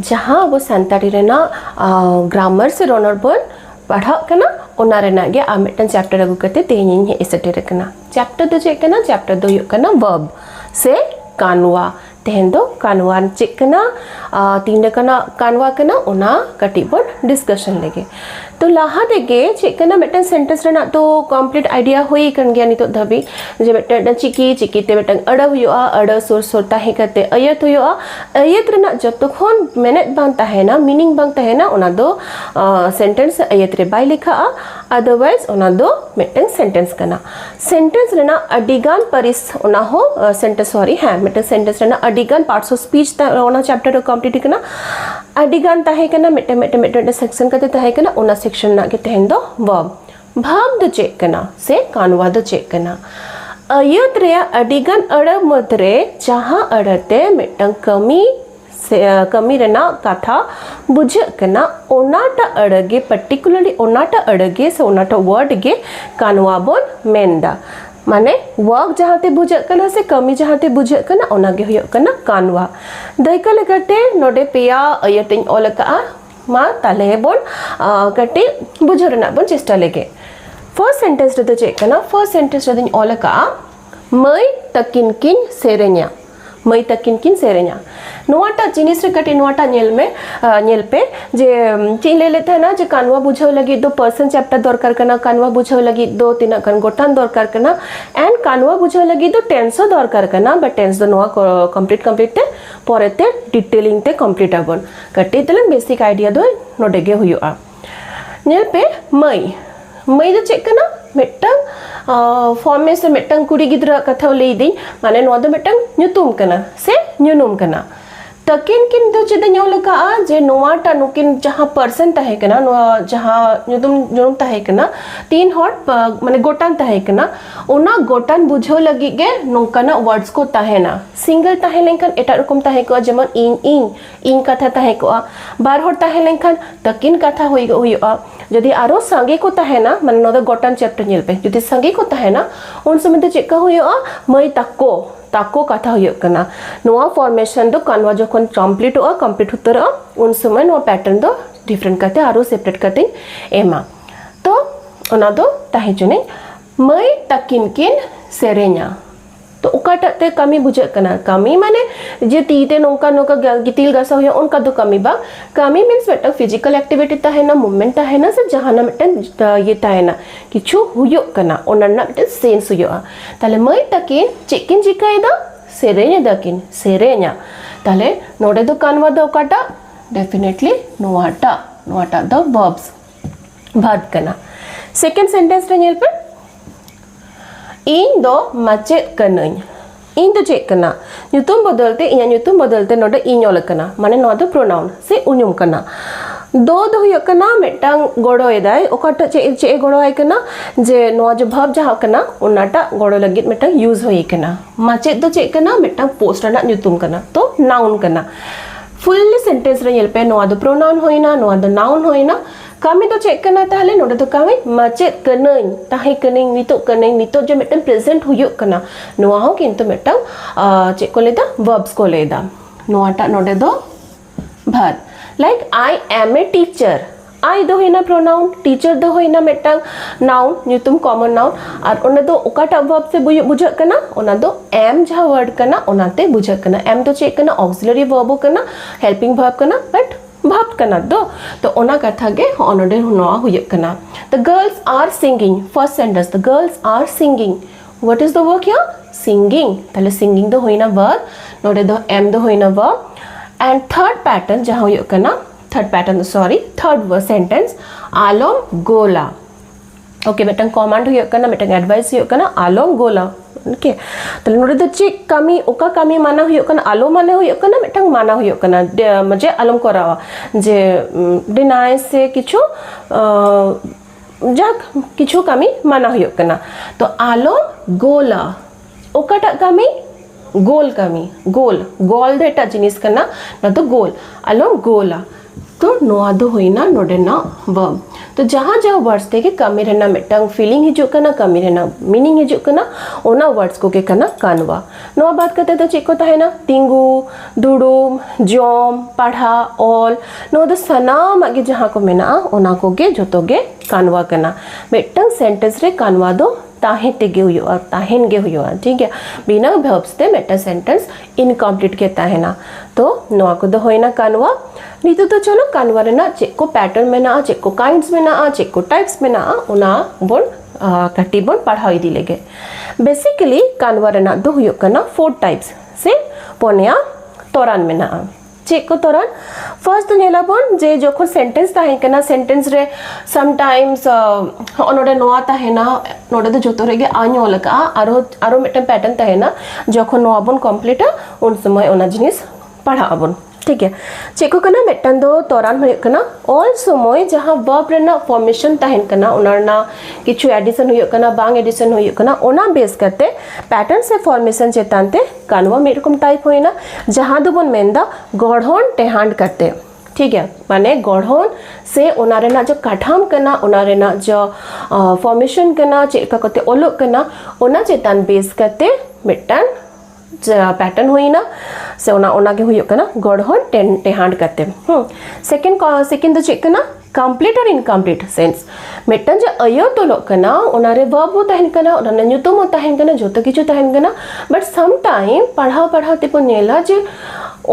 ᱡᱟᱦᱟᱸ ᱟᱵᱚ ᱥᱟᱱᱛᱟᱲᱤ ᱨᱮᱱᱟᱜ ᱜᱨᱟᱢᱟᱨ ᱥᱮ ᱨᱚᱱᱚᱲ ᱵᱚᱱ ᱯᱟᱲᱦᱟᱜ ᱠᱟᱱᱟ ᱚᱱᱟ ᱨᱮᱱᱟᱜ ᱜᱮ ᱟᱨ ᱢᱤᱫᱴᱟᱝ ᱪᱮᱯᱴᱟᱨ ᱟᱹᱜᱩ ᱠᱟᱛᱮ ᱛᱮᱦᱮᱧ ᱤᱧ ᱦᱮᱡ ᱥᱮᱴᱮᱨ ᱟᱠᱟᱱᱟ ᱪᱮᱯᱴᱟᱨ ᱫᱚ ᱪᱮᱫ ᱠᱟᱱᱟ ᱪᱮᱯᱴᱟᱨ ᱫᱚ ᱦᱩᱭᱩᱜ ᱠᱟᱱᱟ ᱵᱟᱵ ᱥᱮ ᱠᱟᱱᱣᱟ ᱛᱮᱦᱮᱧ ᱫᱚ ᱠᱟᱱᱣᱟ ᱪᱮᱫ ᱠᱟᱱᱟ ᱛᱤᱱ ᱞᱮᱠᱟᱱᱟᱜ ᱠᱟᱱᱣᱟ ᱠᱟᱱᱟ ᱚᱱᱟ ᱠᱟᱹᱴᱤᱡ ᱵᱚᱱ ᱰᱤᱥᱠᱟᱥᱚᱱ ᱞᱮᱜᱮ ᱛᱚ ᱞᱟᱦᱟ ᱛᱮᱜᱮ ᱪᱮᱫ ᱠᱟᱱᱟ ᱢᱤᱫᱴᱟᱝ ᱥᱮᱱᱴᱮᱱᱥ ᱨᱮᱱᱟᱜ ᱛᱚ ᱠᱚᱢᱯᱞᱤᱴ ᱟᱭᱰᱤᱭᱟ ᱦᱩᱭ ᱟᱠᱟᱱ ᱜᱮᱭᱟ ᱱᱤᱛᱚᱜ ᱫᱷᱟᱹᱵᱤᱡ ᱡᱮ ᱢᱤᱫᱴᱟᱝ ᱪᱤᱠᱤ ᱪᱤᱠᱤᱛᱮ ᱢᱤᱫᱴᱟᱝ ᱟᱹᱲᱟᱹ ᱦᱩᱭᱩᱜᱼᱟ ᱟᱹᱲᱟᱹ ᱥᱩᱨ ᱥᱩᱨ ᱛᱟᱦᱮᱸ ᱠᱟᱛᱮ ᱟᱹᱭᱟᱹᱛ ᱦᱩᱭᱩᱜᱼᱟ ᱟᱹᱭᱟᱹᱛ ᱨᱮᱱᱟᱜ ᱡᱚᱛᱚ ᱠᱷᱚᱱ ᱢᱮᱱᱮᱫ ᱵᱟᱝ ᱛᱟᱦᱮᱱᱟ ᱢᱤᱱᱤᱝ ᱵᱟᱝ ᱛᱟᱦᱮᱱᱟ ᱚᱱᱟ ᱫᱚ ᱥᱮᱱᱴᱮᱱᱥ ᱟᱹᱭᱟᱹᱛ ᱨᱮ ᱵᱟᱭ ᱞᱮᱠᱷᱟᱜᱼᱟ ᱟᱫᱟᱨᱣᱟᱭᱤᱡ ᱚᱱᱟ ᱫᱚ ᱢᱤᱫᱴᱟᱝ ᱥᱮᱱᱴᱮᱱᱥ ᱠᱟᱱᱟ ᱥᱮᱱᱴᱮᱱᱥ ᱨᱮᱱᱟᱜ ᱟᱹᱰᱤᱜᱟᱱ ᱯᱟᱹᱨᱤᱥ ᱚᱱᱟ ᱦᱚᱸ ᱥᱮᱱᱴᱮᱱᱥ ᱥᱚᱨᱤ ᱦᱮᱸ ᱢᱤᱫᱴᱮᱱ ᱥᱮᱱᱴᱮᱱᱥ ᱨᱮᱱᱟᱜ ᱟᱹᱰᱤᱜᱟᱱ ᱯᱟᱨᱴᱥ ᱚᱯᱷ ᱥᱯᱤᱪ ᱚᱱᱟ ᱪᱮᱯᱴᱟᱨ ᱨᱮ ᱠᱚᱢᱯᱞᱤᱴ ᱠᱟᱱᱟ ᱟᱹᱰᱤᱜᱟᱱ ᱛᱟᱦᱮᱸ ᱠᱟᱱᱟ ᱢᱤᱫᱴᱮᱱ ᱢᱤᱫᱴᱮᱱ ᱢᱤᱫᱴᱮᱱ ᱥᱮᱠᱥᱚᱱ ᱠᱟᱛᱮ ᱛᱟᱦᱮᱸ ᱠᱟᱱᱟ ᱚᱱᱟ ᱥᱮᱠᱥᱚᱱ ᱨᱮᱱᱟᱜ ᱜᱮ ᱛᱮᱦᱮᱧ ᱫᱚ ᱵᱚᱵ ᱵᱷᱟᱵᱽ ᱫᱚ ᱪᱮᱫ ᱠᱟᱱᱟ ᱥᱮ ᱠᱟᱱᱣᱟ ᱫᱚ ᱪᱮᱫ ᱠᱟᱱᱟ ᱟᱹᱭᱟᱹᱛ ᱨᱮᱭᱟᱜ ᱟᱹᱰᱤᱜᱟᱱ ᱟᱹᱲᱟᱹ ᱢᱩᱫᱽᱨᱮ ᱡᱟᱦᱟᱸ ᱟᱹᱲᱟᱹᱛᱮ ᱢᱤᱫᱴᱟᱝ ᱠᱟᱹᱢᱤ ᱠᱟᱹᱢᱤ ᱨᱮᱱᱟᱜ ᱠᱟᱛᱷᱟ ᱵᱩᱡᱷᱟᱹᱜ ᱠᱟᱱᱟ ᱚᱱᱟᱴᱟᱜ ᱟᱹᱲᱟᱹ ᱜᱮ ᱯᱟᱨᱴᱤᱠᱩᱞᱟᱨᱞᱤ ᱚᱱᱟᱴᱟᱜ ᱟᱹᱲᱟᱹ ᱜᱮ ᱥᱮ ᱚᱱᱟᱴᱟᱜ ᱣᱟᱨᱰ ᱜᱮ ᱠᱟᱱᱣᱟ ᱵᱚᱱ ᱢᱮᱱᱫᱟ ᱢᱟᱱᱮ ᱣᱟᱨᱠ ᱡᱟᱦᱟᱸᱛᱮ ᱵᱩᱡᱷᱟᱹᱜ ᱠᱟᱱᱟ ᱥᱮ ᱠᱟᱹᱢᱤ ᱡᱟᱦᱟᱸᱛᱮ ᱵᱩᱡᱷᱟᱹᱜ ᱠᱟᱱᱟ ᱚᱱᱟᱜᱮ ᱦᱩᱭᱩᱜ ᱠᱟᱱᱟ ᱠᱟᱱᱣᱟ ᱫᱟᱹᱭᱠᱟᱹ ᱞᱮᱠᱟᱛᱮ ᱱᱚᱰᱮ ᱯᱮᱭᱟ ᱟᱹᱭᱟᱹᱛᱤᱧ ᱚᱞ ᱟᱠᱟᱜᱼᱟ ᱢᱟ ᱛᱟᱦᱞᱮ ᱵᱚᱱ ᱠᱟᱹᱴᱤᱡ ᱵᱩᱡᱷᱟᱹᱣ ᱨᱮᱱᱟᱜ ᱵᱚᱱ ᱪᱮᱥᱴᱟ ᱞᱮᱜᱮ ᱯᱷᱟᱨᱥᱴ ᱥᱮᱱᱴᱮᱱᱥ ᱨᱮᱫᱚ ᱪᱮᱫ ᱠᱟᱱᱟ ᱯᱷᱟᱨᱥᱴ ᱥᱮᱱᱴᱮᱱᱥ ᱨᱮᱫᱚᱧ ᱚᱞ ᱟᱠᱟᱜᱼᱟ ᱢᱟᱹᱭ ᱛᱟᱹᱠᱤᱱ ᱠᱤᱱ ᱥᱮᱨᱮᱧᱟ ᱢᱟᱹᱭ ᱛᱟᱹᱠᱤᱱ ᱠᱤᱱ ᱥᱮᱨᱮᱧᱟ ᱱᱚᱣᱟᱴᱟᱜ ᱡᱤᱱᱤᱥ ᱨᱮ ᱠᱟᱹᱴᱤᱡ ᱱᱚᱣᱟᱴᱟᱜ ᱧᱮᱞ ᱢᱮ ᱧᱮᱞ ᱯᱮ ᱡᱮ ᱪᱮᱫ ᱤᱧ ᱞᱟᱹᱭ ᱞᱮᱫ ᱛᱟᱦᱮᱱᱟ ᱡᱮ ᱠᱟᱱᱣᱟ ᱵᱩᱡᱷᱟᱹᱣ ᱞᱟᱹᱜᱤᱫ ᱫᱚ ᱯᱟᱨᱥᱚᱱ ᱪᱮᱯᱴᱟᱨ ᱫᱚᱨᱠᱟᱨ ᱠᱟᱱᱟ ᱠᱟᱱᱣᱟ ᱵᱩᱡᱷᱟᱹᱣ ᱞᱟᱹᱜᱤᱫ ᱫᱚ ᱛᱤᱱᱟᱹᱜ ᱜᱟᱱ ᱜᱚᱴᱟᱱ ᱫᱚᱨᱠᱟᱨ ᱠᱟᱱᱟ ᱮᱱᱰ ᱠᱟᱱᱣᱟ ᱵᱩᱡᱷᱟᱹᱣ ᱞᱟᱹᱜᱤᱫ ᱫᱚ ᱴᱮᱱᱥ ᱦᱚᱸ ᱫᱚᱨᱠᱟᱨ ᱠᱟᱱᱟ ᱵᱟᱴ ᱴᱮᱱᱥ ᱫᱚ ᱱᱚᱣᱟ ᱠᱚᱢᱯᱞᱤᱴ ᱠᱚᱢᱯᱞᱤᱴ ᱛᱮ ᱯᱚᱨᱮᱛᱮ ᱰᱤᱴᱮᱞᱤᱝ ᱛᱮ ᱠᱚᱢᱯᱞᱤᱴ ᱟᱵᱚᱱ ᱠᱟᱹᱴᱤᱡ ᱛᱟᱞᱟᱝ ᱵᱮᱥᱤᱠ ᱟᱭᱰᱤᱭᱟ ᱫᱚ ᱱᱚᱰᱮ ᱜᱮ ᱦᱩᱭᱩᱜᱼᱟ ᱧᱮᱞ ᱯᱮ ᱢᱟᱹᱭ ᱢᱟᱹᱭ ᱫᱚ ᱪᱮᱫ ᱠᱟᱱᱟ ᱢᱤᱫᱴᱟᱝ ᱯᱷᱚᱨᱢᱮᱥ ᱨᱮ ᱢᱤᱫᱴᱟᱝ ᱠᱩᱲᱤ ᱜᱤᱫᱽᱨᱟᱹ ᱠᱟᱛᱷᱟ ᱞᱟᱹᱭ ᱫᱤᱧ ᱢᱟᱱᱮ ᱱᱚᱣᱟ ᱫᱚ ᱢᱤᱫᱴᱟᱝ ᱧᱩᱛᱩᱢ ᱠᱟᱱᱟ ᱥᱮ ᱧᱩᱱᱩᱢ ᱠᱟᱱᱟ ᱛᱟᱹᱠᱤᱱ ᱠᱤᱱ ᱫᱚ ᱪᱮᱫ ᱤᱧ ᱚᱞ ᱟᱠᱟᱫᱼᱟ ᱡᱮ ᱱᱚᱣᱟᱴᱟᱜ ᱱᱩᱠᱤᱱ ᱡᱟᱦᱟᱸ ᱯᱟᱨᱥᱚᱱ ᱛᱟᱦᱮᱸ ᱠᱟᱱᱟ ᱱᱚᱣᱟ ᱡᱟᱦᱟᱸ ᱧᱩᱛᱩᱢ ᱧᱩᱱᱩᱢ ᱛᱟᱦᱮᱸ ᱠᱟᱱᱟ ᱛᱤᱱ ᱦᱚᱲ ᱢᱟᱱᱮ ᱜᱚᱴᱟᱱ ᱛᱟᱦᱮᱸ ᱠᱟᱱᱟ ᱚᱱᱟ ᱜᱚᱴᱟᱱ ᱵᱩᱡᱷᱟᱹᱣ ᱞᱟᱹᱜᱤᱫ ᱜᱮ ᱱᱚᱝᱠᱟᱱᱟᱜ ᱣᱟᱨᱰᱥ ᱠᱚ ᱛᱟᱦᱮᱱᱟ ᱥᱤᱝᱜᱮᱞ ᱛᱟᱦᱮᱸ ᱞᱮᱱᱠᱷᱟᱱ ᱮᱴᱟᱜ ᱨᱚᱠᱚᱢ ᱛᱟᱦᱮᱸ ᱠᱚᱜᱼᱟ ᱡᱮᱢᱚᱱ ᱤᱧ ᱤᱧ ᱤᱧ ᱠᱟᱛᱷᱟ ᱛᱟᱦᱮᱸ ᱠᱚᱜᱼᱟ ᱵᱟᱨ ᱦᱚᱲ ᱛᱟᱦᱮᱸ ᱞᱮᱱᱠᱷᱟᱱ ᱛᱟᱹᱠᱤᱱ ᱠᱟᱛᱷᱟ ᱦᱩᱭ ᱦᱩᱭᱩᱜᱼᱟ ᱡᱩᱫᱤ ᱟᱨᱚ ᱥᱟᱸᱜᱮ ᱠᱚ ᱛᱟᱦᱮᱱᱟ ᱢᱟᱱᱮ ᱱᱚᱣᱟ ᱫᱚ ᱜᱚᱴᱟᱱ ᱪᱮᱯᱴᱟᱨ ᱧᱮᱞ ᱯᱮ ᱡᱩᱫᱤ ᱥᱟᱸᱜᱮ ᱠᱚ ᱛᱟᱦᱮᱱᱟ ᱩᱱ ᱥᱚᱢᱚᱭ ᱫᱚ ᱪᱮᱫ ᱠᱟ ᱦᱩᱭᱩᱜᱼᱟ ᱢᱟᱹᱭ ᱛᱟᱠᱚ ᱛᱟᱠᱚ ᱠᱟᱛᱷᱟ ᱦᱩᱭᱩᱜ ᱠᱟᱱᱟ ᱱᱚᱣᱟ ᱯᱷᱚᱨᱢᱮᱥᱚᱱ ᱫᱚ ᱠᱟᱱᱣᱟ ᱡᱚᱠᱷᱚᱱ ᱠᱚᱢᱯᱞᱤᱴᱚᱜᱼᱟ ᱠᱚᱢᱯᱞᱤᱴ ᱩᱛᱟᱹᱨᱚᱜᱼᱟ ᱩᱱ ᱥᱚᱢᱚᱭ ᱱᱚᱣᱟ ᱯᱮᱴᱟᱨᱱ ᱫᱚ ᱰᱤᱯᱷᱟᱨᱮᱱᱴ ᱠᱟᱛᱮ ᱟᱨᱚ ᱥᱮᱯᱟᱨᱮᱴ ᱠᱟᱛᱮᱧ ᱮᱢᱟ ᱛᱚ ᱚᱱᱟ ᱫᱚ ᱛᱟᱦᱮᱸ ᱪᱚᱱᱤᱡ ᱢᱟᱹᱭ ᱛᱟᱹᱠᱤᱱ ᱠᱤᱱ ᱥᱮᱨᱮᱧᱟ ᱛᱚ ᱚᱠᱟᱴᱟᱜ ᱛᱮ ᱠᱟᱹᱢᱤ ᱵᱩᱡᱷᱟᱹᱜ ᱠᱟᱱᱟ ᱠᱟᱹᱢᱤ ᱢᱟᱱᱮ ᱡᱮ ᱛᱤ ᱛᱮ ᱱᱚᱝᱠᱟ ᱱᱚᱝᱠᱟ ᱜᱤᱛᱤᱞ ᱜᱟᱥᱟᱣ ᱦᱩᱭᱩᱜᱼᱟ ᱚᱱᱠᱟ ᱫᱚ ᱠᱟᱹᱢᱤ ᱵᱟᱝ ᱠᱟᱹᱢᱤ ᱢᱤᱱᱥ ᱢᱤᱫᱴᱟᱝ ᱯᱷᱤᱡᱤᱠᱟᱞ ᱮᱠᱴᱤᱵᱷᱤᱴᱤ ᱛᱟᱦᱮᱱᱟ ᱢᱩᱵᱷᱢᱮᱱᱴ ᱛᱟᱦᱮᱱᱟ ᱥᱮ ᱡᱟᱦᱟᱱᱟᱜ ᱢᱤᱫᱴᱟᱝ ᱤᱭᱟᱹ ᱛᱟᱦᱮᱱᱟ ᱠᱤᱪᱷᱩ ᱦᱩᱭᱩᱜ ᱠᱟᱱᱟ ᱚᱱᱟ ᱨᱮᱱᱟᱜ ᱢᱤᱫᱴᱟᱝ ᱥᱮᱱᱥ ᱦᱩᱭᱩᱜᱼᱟ ᱛᱟᱦᱞᱮ ᱢᱟᱹᱭ ᱛᱟᱹᱠᱤᱱ ᱪᱮᱫ ᱠᱤᱱ ᱪᱤᱠᱟᱹᱭᱮᱫᱟ ᱥᱮᱨᱮᱧ ᱮᱫᱟ ᱠᱤᱱ ᱥᱮᱨᱮᱧᱟ ᱛᱟᱦᱞᱮ ᱱᱚᱰᱮ ᱫᱚ ᱠᱟᱱᱣᱟ ᱫᱚ ᱚᱠᱟᱴᱟᱜ ᱰᱮᱯᱷᱤᱱᱮᱴᱞᱤ ᱱᱚᱣᱟᱴᱟᱜ ᱱᱚᱣᱟᱴᱟᱜ ᱫᱚ ᱵᱷᱟᱨᱵᱥ ᱵᱷᱟᱨᱵ ᱠᱟᱱᱟ ᱥᱮᱠᱮᱱᱰ ᱥᱮᱱᱴᱮᱱᱥ ᱨᱮ ᱧᱮᱞ ᱯᱮ ᱤᱧ ᱫᱚ ᱢᱟᱪᱮᱫ ᱠᱟᱹᱱᱟᱹᱧ ᱤᱧ ᱫᱚ ᱪᱮᱫ ᱠᱟᱱᱟ ᱧᱩᱛᱩᱢ ᱵᱚᱫᱚᱞ ᱛᱮ ᱤᱧᱟᱹᱜ ᱧᱩᱛᱩᱢ ᱵᱚᱫᱚᱞ ᱛᱮ ᱱᱚᱰᱮ ᱤᱧ ᱚᱞ ᱟᱠᱟᱱᱟ ᱢᱟᱱᱮ ᱱᱚᱣᱟ ᱫᱚ ᱯᱨᱚᱱᱟᱣᱩᱱ ᱥᱮ ᱩᱧᱩᱢ ᱠᱟᱱᱟ ᱫᱚ ᱫᱚ ᱦᱩᱭᱩᱜ ᱠᱟᱱᱟ ᱢᱤᱫᱴᱟᱝ ᱜᱚᱲᱚᱭᱮᱫᱟᱭ ᱚᱠᱟᱴᱟᱜ ᱪᱮᱫ ᱪᱮᱫ ᱮ ᱜᱚᱲᱚᱣᱟᱭ ᱠᱟᱱᱟ ᱡᱮ ᱱᱚᱣᱟ ᱡᱮ ᱵᱷᱟᱵ ᱡᱟᱦᱟᱸ ᱠᱟᱱᱟ ᱚᱱᱟᱴᱟᱜ ᱜᱚᱲᱚ ᱞᱟᱹᱜᱤᱫ ᱢᱤᱫᱴᱟᱝ ᱤᱭᱩᱡᱽ ᱦᱩᱭ ᱠᱟᱱᱟ ᱢᱟᱪᱮᱫ ᱫᱚ ᱪᱮᱫ ᱠᱟᱱᱟ ᱢᱤᱫᱴᱟᱝ ᱯᱳᱥᱴ ᱨᱮᱱᱟᱜ ᱧᱩᱛᱩᱢ ᱠᱟᱱᱟ ᱛᱚ ᱱᱟᱣᱩᱱ ᱠᱟᱱᱟ ᱯᱷᱩᱞ ᱥᱮᱱᱴᱮᱱᱥ ᱨᱮ ᱧᱮᱞ ᱯᱮ ᱱᱚᱣᱟ ᱫᱚ ᱯᱨᱚᱱᱟᱣᱩᱱ ᱦᱩᱭᱱᱟ ᱱᱚᱣᱟ ᱫᱚ ᱱᱟᱣᱩᱱ ᱦᱩᱭᱱᱟ ᱠᱟᱹᱢᱤ ᱫᱚ ᱪᱮᱫ ᱠᱟᱱᱟ ᱛᱟᱦᱞᱮ ᱱᱚᱰᱮ ᱫᱚ ᱠᱟᱹᱢᱤ ᱢᱟᱪᱮᱫ ᱠᱟᱹᱱᱟᱹᱧ ᱛᱟᱦᱮᱸ ᱠᱟᱹᱱᱟᱹᱧ ᱱᱤᱛᱚᱜ ᱠᱟᱹᱱᱟᱹᱧ ᱱᱤᱛᱚᱜ ᱡᱮ ᱢᱤᱫᱴᱟᱝ ᱯᱨᱮᱡᱮᱱᱴ ᱦᱩᱭᱩᱜ ᱠᱟᱱᱟ ᱱᱚᱣᱟ ᱦᱚᱸ ᱠᱤᱱᱛᱩ ᱢᱤᱫᱴᱟᱝ ᱪᱮᱫ ᱠᱚ ᱞᱟᱹᱭᱫᱟ ᱵᱷᱟᱨᱵᱥ ᱠᱚ ᱞᱟᱹᱭᱫᱟ ᱱᱚᱣᱟᱴᱟᱜ ᱱᱚᱰᱮ ᱫᱚ verb like I am a teacher I ᱫᱚ ᱦᱩᱭᱱᱟ ᱯᱨᱚᱱᱟᱣᱩᱱ ᱴᱤᱪᱟᱨ ᱫᱚ ᱦᱩᱭᱱᱟ ᱢᱤᱫᱴᱟᱝ ᱱᱟᱣᱩᱱ ᱧᱩᱛᱩᱢ ᱠᱚᱢᱚᱱ ᱱᱟᱣᱩᱱ ᱟᱨ ᱚᱱᱟ ᱫᱚ ᱚᱠᱟᱴᱟᱜ ᱵᱷᱟᱨᱵ ᱛᱮ ᱵᱩᱡᱷᱟᱹᱜ ᱠᱟᱱᱟ ᱚᱱᱟ ᱫᱚ ᱮᱢ ᱡᱟᱦᱟᱸ ᱣᱟᱨᱰ ᱠᱟᱱᱟ ᱚᱱᱟᱛᱮ ᱵᱩᱡᱷᱟᱹᱜ ᱠᱟᱱᱟ ᱮᱢ ᱫᱚ ᱪᱮᱫ ᱠᱟᱱᱟ ᱚᱠᱥᱤᱞᱟᱨᱤ ᱵᱷᱟᱨᱵ ᱦᱚᱸ ᱠᱟᱱᱟ ᱦᱮᱞᱯᱤᱝ ᱵᱷᱟᱨᱵ ᱠᱟᱱᱟ ᱵᱟᱴ ᱵᱷᱟᱵ ᱠᱟᱱᱟ ᱫᱚ ᱛᱚ ᱚᱱᱟ ᱠᱟᱛᱷᱟ ᱜᱮ ᱦᱚᱸ ᱱᱚᱰᱮ ᱱᱚᱣᱟ ᱦᱩᱭᱩᱜ ᱠᱟᱱᱟ the girls are singing first sentence the girls are singing what is the work here singing ᱛᱟᱦᱞᱮ ᱥᱤᱝᱜᱤᱝ ᱫᱚ ᱦᱩᱭᱱᱟ ᱵᱷᱟᱨᱵ ᱱᱚᱰᱮ ᱫᱚ ᱮᱢ ᱫᱚ ᱦᱩᱭᱱᱟ ᱵᱷᱟᱨᱵ ᱮᱱᱰ ᱛᱷᱟᱨᱰ ᱯᱮᱴᱟᱨᱱ ᱡᱟᱦᱟᱸ ᱦᱩᱭᱩᱜ ᱠᱟᱱᱟ ᱛᱷᱟᱨᱰ ᱯᱮᱴᱟᱨᱱ ᱫᱚ ᱥᱚᱨᱤ ᱛᱷᱟᱨᱰ ᱵᱚ ᱥᱮᱱᱴᱮᱱᱥ ᱟᱞᱚᱢ ᱜᱳᱞᱟ ᱳᱠᱮ ᱢᱤᱫᱴᱟᱝ ᱠᱚᱢᱟᱱᱰ ᱦᱩᱭᱩᱜ ᱠᱟᱱᱟ ᱢᱤᱫᱴᱟᱝ ᱮᱰᱵᱷᱟᱭᱤᱥ ᱦᱩᱭᱩᱜ ᱠᱟᱱᱟ ᱟᱞᱚᱢ ᱜᱳᱞᱟ ᱳᱠᱮ ᱛᱟᱦᱞᱮ ᱱᱚᱰᱮ ᱫᱚ ᱪᱮᱫ ᱠᱟᱹᱢᱤ ᱚᱠᱟ ᱠᱟᱹᱢᱤ ᱢᱟᱱᱟ ᱦᱩᱭᱩᱜ ᱠᱟᱱᱟ ᱟᱞᱚ ᱢᱟᱱᱟ ᱦᱩᱭᱩᱜ ᱠᱟᱱᱟ ᱢᱤᱫᱴᱟᱝ ᱢᱟᱱᱟ ᱦᱩᱭᱩᱜ ᱠᱟᱱᱟ ᱡᱮ ᱟᱞᱚᱢ ᱠᱚᱨᱟᱣᱟ ᱡᱮ ᱰᱤᱱᱟᱭ ᱥᱮ ᱠᱤᱪᱷᱩ ᱡᱟᱠ ᱠᱤᱪᱷᱩ ᱠᱟᱹᱢᱤ ᱢᱟᱱᱟ ᱦᱩᱭᱩᱜ ᱠᱟᱱᱟ ᱛᱚ ᱟᱞᱚᱢ ᱜᱳᱞᱟ ᱚᱠᱟᱴᱟᱜ ᱠᱟᱹᱢᱤ ᱜᱳᱞ ᱠᱟᱹᱢᱤ ᱜᱳᱞ ᱜᱳᱞ ᱫᱚ ᱮᱴᱟᱜ ᱡᱤᱱᱤᱥ ᱠᱟᱱᱟ ᱱᱚᱣᱟ ᱫᱚ ᱜᱳᱞ ᱟᱞᱚᱢ ᱜᱳᱞᱟ ᱛᱚ ᱱᱚᱣᱟ ᱫᱚ ᱦᱩᱭᱱᱟ ᱱᱚᱰᱮᱱᱟᱜ ᱵᱟᱢ ᱛᱚ ᱡᱟᱦᱟᱸ ᱡᱟᱦᱟᱸ ᱣᱟᱨᱰᱥ ᱛᱮᱜᱮ ᱠᱟᱹᱢᱤ ᱨᱮᱱᱟᱜ ᱢᱤᱫᱴᱟᱝ ᱯᱷᱤᱞᱤᱝ ᱦᱤᱡᱩᱜ ᱠᱟᱱᱟ ᱠᱟᱹᱢᱤ ᱨᱮᱱᱟᱜ ᱢᱤᱱᱤᱝ ᱦᱤᱡᱩᱜ ᱠᱟᱱᱟ ᱚᱱᱟ ᱣᱟᱨᱰᱥ ᱠᱚᱜᱮ ᱠᱟᱱᱟ ᱠᱟᱱᱣᱟ ᱱᱚᱣᱟ ᱵᱟᱫ ᱠᱟᱛᱮ ᱫᱚ ᱪᱮᱫ ᱠᱚ ᱛᱟᱦᱮᱱᱟ ᱛᱤᱸᱜᱩ ᱫᱩᱲᱩᱵ ᱡᱚᱢ ᱯᱟᱲᱦᱟᱜ ᱚᱞ ᱱᱚᱣᱟ ᱫᱚ ᱥᱟᱱᱟᱢᱟᱜ ᱜᱮ ᱡᱟᱦᱟᱸ ᱠᱚ ᱢᱮᱱᱟᱜᱼᱟ ᱚᱱᱟ ᱠᱚᱜᱮ ᱡᱚᱛᱚ ᱜᱮ ᱠᱟᱱᱣᱟ ᱠᱟᱱᱟ ᱢᱤᱫᱴᱟᱝ ᱥᱮᱱᱴᱮᱱᱥ ᱨᱮ ᱠᱟᱱᱣᱟ ᱫᱚ ᱛᱟᱦᱮᱸ ᱛᱮᱜᱮ ᱦᱩᱭᱩᱜᱼᱟ ᱛᱟᱦᱮᱱ ᱜᱮ ᱦᱩᱭᱩᱜᱼᱟ ᱴᱷᱤᱠ ᱜᱮᱭᱟ ᱵᱤᱱᱟ ᱵᱷᱟᱨᱵᱥ ᱛᱮ ᱢᱤᱫᱴᱟᱝ ᱥᱮᱱᱴᱮᱱᱥ ᱤᱱᱠᱚᱢᱯᱞᱤᱴ ᱜᱮ ᱛᱟᱦᱮᱱᱟ ᱛᱚ ᱱᱚᱣᱟ ᱠᱚᱫᱚ ᱦᱩᱭᱱᱟ ᱠᱟᱱᱣᱟ ᱱᱤᱛᱚᱜ ᱫᱚ ᱪᱚᱞᱚ ᱠᱟᱱᱣᱟ ᱨᱮᱱᱟᱜ ᱪᱮᱫ ᱠᱚ ᱯᱮᱴᱟᱨᱱ ᱢᱮᱱᱟᱜᱼᱟ ᱪᱮᱫ ᱠᱚ ᱠᱟᱭᱤᱱᱰᱥ ᱢᱮᱱᱟᱜᱼᱟ ᱪᱮᱫ ᱠᱚ ᱴᱟᱭᱤᱯᱥ ᱢᱮᱱᱟᱜᱼᱟ ᱚᱱᱟ ᱵᱚᱱ ᱠᱟᱹᱴᱤᱡ ᱵᱚᱱ ᱯᱟᱲᱦᱟᱣ ᱤᱫᱤ ᱞᱮᱜᱮ ᱵᱮᱥᱤᱠᱮᱞᱤ ᱠᱟᱱᱣᱟ ᱨᱮᱱᱟᱜ ᱫᱚ ᱦᱩᱭᱩᱜ ᱠᱟᱱᱟ ᱯᱷᱳᱨ ᱴᱟᱭᱤᱯᱥ ᱥᱮ ᱯᱚᱱᱭᱟ ᱛᱚᱨᱟᱱ ᱢᱮᱱᱟᱜᱼᱟ ᱪᱮᱫ ᱠᱚ ᱛᱚᱨᱟᱱ ᱯᱷᱟᱨᱥᱴ ᱧᱮᱞᱟᱵᱚᱱ ᱡᱮ ᱡᱚᱠᱷᱚᱱ ᱥᱮᱱᱴᱮᱱᱥ ᱛᱟᱦᱮᱸ ᱠᱟᱱᱟ ᱥᱮᱱᱴᱮᱱᱥ ᱨᱮ ᱥᱟᱢᱴᱟᱭᱢᱥ ᱦᱚᱸᱜᱼᱚ ᱱᱚᱰᱮ ᱱᱚᱣᱟ ᱛᱟᱦᱮᱱᱟ ᱱᱚᱰᱮ ᱫᱚ ᱡᱚᱛᱚ ᱨᱮᱜᱮ ᱟᱧ ᱚᱞ ᱟᱠᱟᱜᱼᱟ ᱟᱨᱚ ᱟᱨᱚ ᱢᱤᱫᱴᱟᱝ ᱯᱮᱴᱟᱨᱱ ᱛᱟᱦᱮᱱᱟ ᱡᱚᱠᱷᱚᱱ ᱱᱚᱣᱟ ᱵᱚᱱ ᱠᱚᱢᱯᱞᱤᱴᱟ ᱩᱱ ᱥᱚᱢᱚᱭ ᱚᱱᱟ ᱡᱤᱱᱤᱥ ᱯᱟᱲᱦᱟᱜ ᱟᱵᱚᱱ ᱴᱷᱤᱠ ᱜᱮᱭᱟ ᱪᱮᱫ ᱠᱚ ᱠᱟᱱᱟ ᱢᱤᱫᱴᱟᱝ ᱫᱚ ᱛᱚᱨᱟᱱ ᱦᱩᱭᱩᱜ ᱠᱟᱱᱟ ᱚᱞ ᱥᱚᱢᱚᱭ ᱡᱟᱦᱟᱸ ᱵᱟᱵ ᱨᱮᱱᱟᱜ ᱯᱷᱚᱨᱢᱮᱥᱚᱱ ᱛᱟᱦᱮᱱ ᱠᱟᱱᱟ ᱚᱱᱟ ᱨᱮᱱᱟᱜ ᱠᱤᱪᱷᱩ ᱮᱰᱤᱥᱚᱱ ᱦᱩᱭᱩᱜ ᱠᱟᱱᱟ ᱵᱟᱝ ᱮᱰᱤᱥᱚᱱ ᱦᱩᱭᱩᱜ ᱠᱟᱱᱟ ᱚᱱᱟ ᱵᱮᱥ ᱠᱟᱛᱮ ᱯᱮᱴᱟᱨᱱ ᱥᱮ ᱯᱷᱚᱨᱢᱮᱥᱚᱱ ᱪᱮᱛᱟᱱ ᱛᱮ ᱠᱟᱱᱣᱟ ᱢᱤᱫ ᱨᱚᱠᱚᱢ ᱴᱟᱭᱤᱯ ᱦᱩᱭᱱᱟ ᱡᱟᱦᱟᱸ ᱫᱚᱵᱚᱱ ᱢᱮᱱᱫᱟ ᱜᱚᱲᱦᱚᱱ ᱴᱮᱦᱟᱸᱰ ᱠᱟᱛᱮ ᱴᱷᱤᱠ ᱜᱮᱭᱟ ᱢᱟᱱᱮ ᱜᱚᱲᱦᱚᱱ ᱥᱮ ᱚᱱᱟ ᱨᱮᱱᱟᱜ ᱡᱚ ᱠᱟᱴᱷᱟᱢ ᱠᱟᱱᱟ ᱚᱱᱟ ᱨᱮᱱᱟᱜ ᱡᱚ ᱯᱷᱚᱨᱢᱮᱥᱚᱱ ᱠᱟᱱᱟ ᱪᱮᱫ ᱞᱮᱠᱟ ᱠᱟᱛᱮ ᱚᱞᱚᱜ ᱠᱟᱱᱟ ᱚᱱᱟ ᱪᱮᱛᱟᱱ ᱵᱮᱥ ᱠᱟᱛᱮ ᱢᱤᱫᱴᱟᱝ ᱯᱮᱴᱟᱨᱱ ᱦᱩᱭᱱᱟ ᱥᱮ ᱚᱱᱟ ᱚᱱᱟᱜᱮ ᱦᱩᱭᱩᱜ ᱠᱟᱱᱟ ᱜᱚᱲᱦᱚᱱ ᱴᱮᱦᱟᱸᱰ ᱠᱟᱛᱮ ᱦᱩᱸ ᱥᱮᱠᱮᱱᱰ ᱥᱮᱠᱮᱱᱰ ᱫᱚ ᱪᱮᱫ ᱠᱟᱱᱟ ᱠᱚᱢᱯᱞᱤᱴ ᱟᱨ ᱤᱱᱠᱚᱢᱯᱞᱤᱴ ᱥᱮᱱᱥ ᱢᱤᱫᱴᱟᱝ ᱡᱮ ᱟᱭᱳ ᱛᱚᱞᱚᱜ ᱠᱟᱱᱟ ᱚᱱᱟ ᱨᱮ ᱵᱟᱵ ᱦᱚᱸ ᱛᱟᱦᱮᱱ ᱠᱟᱱᱟ ᱚᱱᱟ ᱨᱮᱱᱟᱜ ᱧᱩᱛᱩᱢ ᱦᱚᱸ ᱛᱟᱦᱮᱱ ᱠᱟᱱᱟ ᱡᱚᱛᱚ ᱠᱤᱪᱷᱩ ᱛᱟᱦᱮᱱ ᱠᱟᱱᱟ ᱵᱟᱴ ᱥᱟᱢ ᱴᱟᱭᱤᱢ ᱯᱟᱲᱦᱟᱣ ᱯᱟᱲᱦᱟᱣ ᱛᱮᱵᱚᱱ ᱧᱮᱞᱟ ᱡᱮ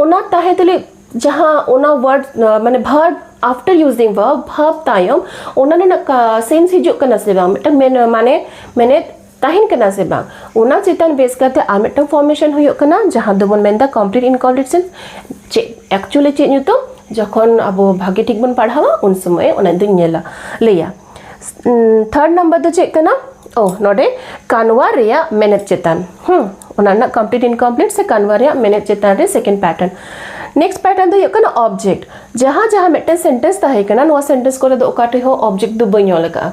ᱚᱱᱟ ᱛᱟᱦᱮᱸ ᱛᱩᱞᱩᱡ ᱡᱟᱦᱟᱸ ᱚᱱᱟ ᱣᱟᱨᱰ ᱢᱟᱱᱮ verb after using verb verb ᱛᱟᱭᱚᱢ ᱚᱱᱟ ᱨᱮᱱᱟᱜ ᱥᱮᱱᱥ ᱦᱤᱡᱩᱜ ᱠᱟᱱᱟ ᱥᱮ ᱵᱟᱝ ᱢᱤᱫᱴᱟᱝ ᱢᱮᱱ ᱢᱟᱱᱮ ᱢᱮᱱᱮᱫ ᱛᱟᱦᱮᱱ ᱠᱟᱱᱟ ᱥᱮ ᱵᱟᱝ ᱚᱱᱟ ᱪᱮᱛᱟᱱ ᱵᱮᱥ ᱠᱟᱛᱮ ᱟᱨ ᱢᱤᱫᱴᱟᱝ ᱯᱷᱚᱨᱢᱮᱥᱚᱱ ᱦᱩᱭᱩᱜ ᱠᱟᱱᱟ ᱡᱟᱦᱟᱸ ᱫᱚᱵᱚᱱ ᱢᱮᱱᱫᱟ ᱠᱚᱢᱯᱞᱤᱴ ᱤᱱᱠᱚᱢᱯᱞᱤᱴᱮᱥᱚᱱ ᱪᱮᱫ ᱮᱠᱪᱩᱭᱮᱞᱤ ᱪᱮᱫ ᱧᱩᱛᱩᱢ ᱡᱚᱠᱷᱚᱱ ᱟᱵᱚ ᱵᱷᱟᱜᱮ ᱴᱷᱤᱠ ᱵᱚᱱ ᱯᱟᱲᱦᱟᱣᱟ ᱩᱱ ᱥᱚᱢᱚᱭ ᱚᱱᱟ ᱫᱚᱧ ᱧᱮᱞᱟ ᱞᱟᱹᱭᱟ ᱛᱷᱟᱨᱰ ᱱᱟᱢᱵᱟᱨ ᱫᱚ ᱪᱮᱫ ᱠᱟᱱᱟ ᱳ ᱱᱚᱰᱮ ᱠᱟᱱᱣᱟ ᱨᱮᱭᱟᱜ ᱢᱮᱱᱮᱛ ᱪᱮᱛᱟᱱ ᱦᱩᱸ ᱚᱱᱟ ᱨᱮᱱᱟᱜ ᱠᱚᱢᱯᱞᱤᱴ ᱤᱱᱠᱚᱢᱯᱞᱤᱴ ᱥᱮ ᱠᱟᱱᱣᱟ ᱨᱮᱭᱟᱜ ᱢᱮᱱᱮᱛ ᱪᱮᱛᱟᱱ ᱨᱮ ᱥᱮᱠᱮᱱᱰ ᱯᱮᱴᱟᱨᱱ ᱱᱮᱠᱥᱴ ᱯᱮᱴᱟᱨᱱ ᱫᱚ ᱦᱩᱭᱩᱜ ᱠᱟᱱᱟ ᱚᱵᱡᱮᱠᱴ ᱡᱟᱦᱟᱸ ᱡᱟᱦᱟᱸ ᱢᱤᱫᱴᱮᱱ ᱥᱮᱱᱴᱮᱱᱥ ᱛᱟᱦᱮᱸ ᱠᱟᱱᱟ ᱱᱚᱣᱟ ᱥᱮᱱᱴᱮᱱᱥ ᱠᱚᱨᱮ ᱫᱚ ᱚᱠᱟ ᱴᱷᱮᱡ ᱦᱚᱸ ᱚᱵᱡᱮᱠᱴ ᱫᱚ ᱵᱟᱹᱧ ᱚᱞ ᱟᱠᱟᱫᱼᱟ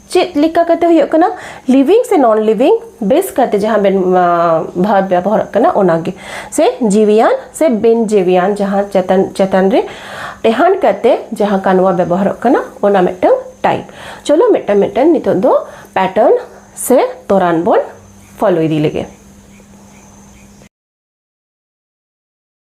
ᱪᱮᱫ ᱞᱮᱠᱟ ᱠᱟᱛᱮ ᱦᱩᱭᱩᱜ ᱠᱟᱱᱟ ᱞᱤᱵᱷᱤᱝ ᱥᱮ ᱱᱚᱱ ᱞᱤᱵᱷᱤᱝ ᱵᱮᱥ ᱠᱟᱛᱮ ᱡᱟᱦᱟᱸ ᱵᱮᱱ ᱵᱷᱟᱨᱵ ᱵᱮᱵᱚᱦᱟᱨᱚᱜ ᱠᱟᱱᱟ ᱚᱱᱟᱜᱮ ᱥᱮ ᱡᱤᱣᱤᱭᱟᱱ ᱥᱮ ᱵᱮᱱ ᱡᱤᱣᱤᱭᱟᱱ ᱡᱟᱦᱟᱸ ᱪᱮᱛᱟᱱ ᱪᱮᱛᱟᱱ ᱨᱮ ᱴᱮᱦᱟᱱ ᱠᱟᱛᱮ ᱡᱟᱦᱟᱸ ᱠᱟᱱᱣᱟ ᱵᱮᱵᱚᱦᱟᱨᱚᱜ ᱠᱟᱱᱟ ᱚᱱᱟ ᱢᱤᱫᱴᱟᱝ ᱴᱟᱭᱤᱯ ᱪᱚᱞᱚ ᱢᱤᱫᱴᱟᱝ ᱢᱤᱫᱴᱟᱝ ᱱᱤᱛᱚᱜ ᱫᱚ ᱯᱮᱴᱟᱨᱱ ᱥᱮ ᱛᱚᱨᱟᱱ ᱵᱚᱱ ᱯᱷᱚᱞᱳ ᱤᱫᱤ ᱞᱮᱜᱮ